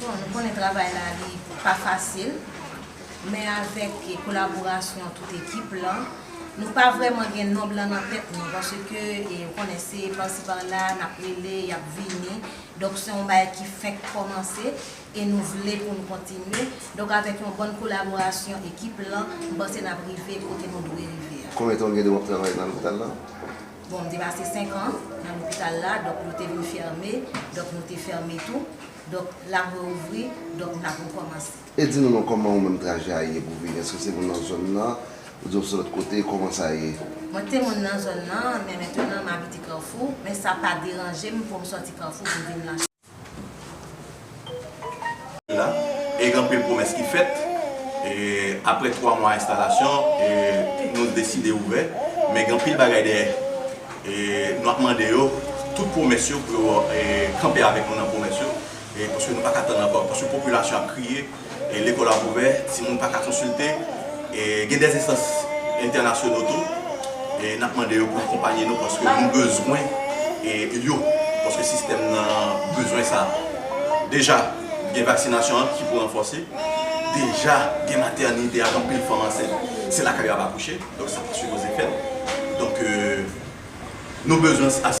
Bon nou konnen travay la li pa fasil men avèk kolaborasyon tout ekip lan nou pa vrèman gen nonb lan nan tèt nou paske ou konnen se pasi pa la nap rele yap vini donk se yon bagay ki fenk kòmanse e nou vle pou l kontinye donk avèk yon bòn kolaborasyon ekip lan m panse nap rive kote nou dwe rive a. Konbyen tan ou gen de wap travay nan lopital la? Bon, m te pase senkan nan lopital la, donk yo te vin fème, donk nou te fème tou, donk lap reouvri, donk nap rekòmanse. E di nou non kòman ou menm trajè a ye pou w vini? Èske w se moun nan zòn nan oubyen w se lòt kote? Kòman sa ye? Mwen te moun nan zòn nan, men mentenan m abite Kafou, men sa pa deranje m pou m sòti Kafou pou m vin nan. la e gen anpil pwomès ki fèt e aprè 3 mwa enstalasyon e nou deside ouvè men gen anpil bagay dèyè e nou ap mande yo tout pwomès yo pou yo kanpe avèk nou nan pwomès yo e paske nou pa ka tann ankò paske popilasyon ap kriye. Lekòl ap ouvè, timoun pa ka konsilte. Gen dè enstans entènasyono tou. N ap mande yo pou akonpanye nou paske nou bezwen yo, paske sistèm nan bezwen sa. Deja gen vaksinasyon an ki pou ranfòse. Deja gen matènite ak anpil fanm ansent, se lakay yo ap akouche. Donk sa pa sipoze fèt. Donk nou bezwen asistans.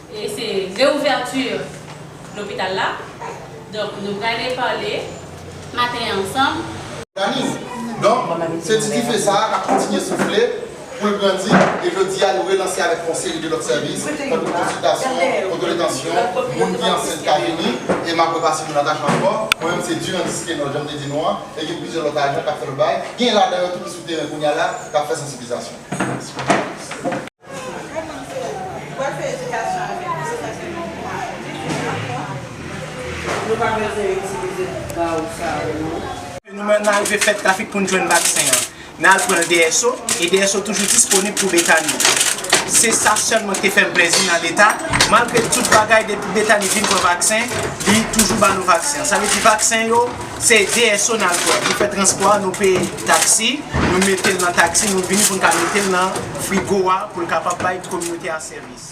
E se reouverture lopital la donk nou prale pale maten an ansanm. Dani, Donk, se ti dife sa a k ap kontinye soufle pou l grandi e jodi a nou relanse avèk yon seri de lòt sèvis tankou konsiltasyon, otodetansyon, moun ki ansent ka vini e m ap repase pou Natacha ankò, mwen menm se Durandis Kenod jan m te di nou an e gen plizyè lòt ajan k ap fè lòt bagay, gen ladan yo tou ki sou teren kounya la k ap fè sansiblizasyon. Nou menm nan rive fè trafik pou n jwenn vaksen an. Nan al pran l DSO, e DSO toujou disponib pou Betani. Se sa sèlman k te fè m plezi nan Leta, malgre tout bagay depi Betani vin pran vaksen, li toujou ba nou vaksen an. Sa vle di vaksen yo. Se DSO n al pran. Nou fè transpò a, nou peye taksi, nou mete l nan taksi, nou vini pou n ka mete l nan frigo a pou l kapab bay kominote a sèvis.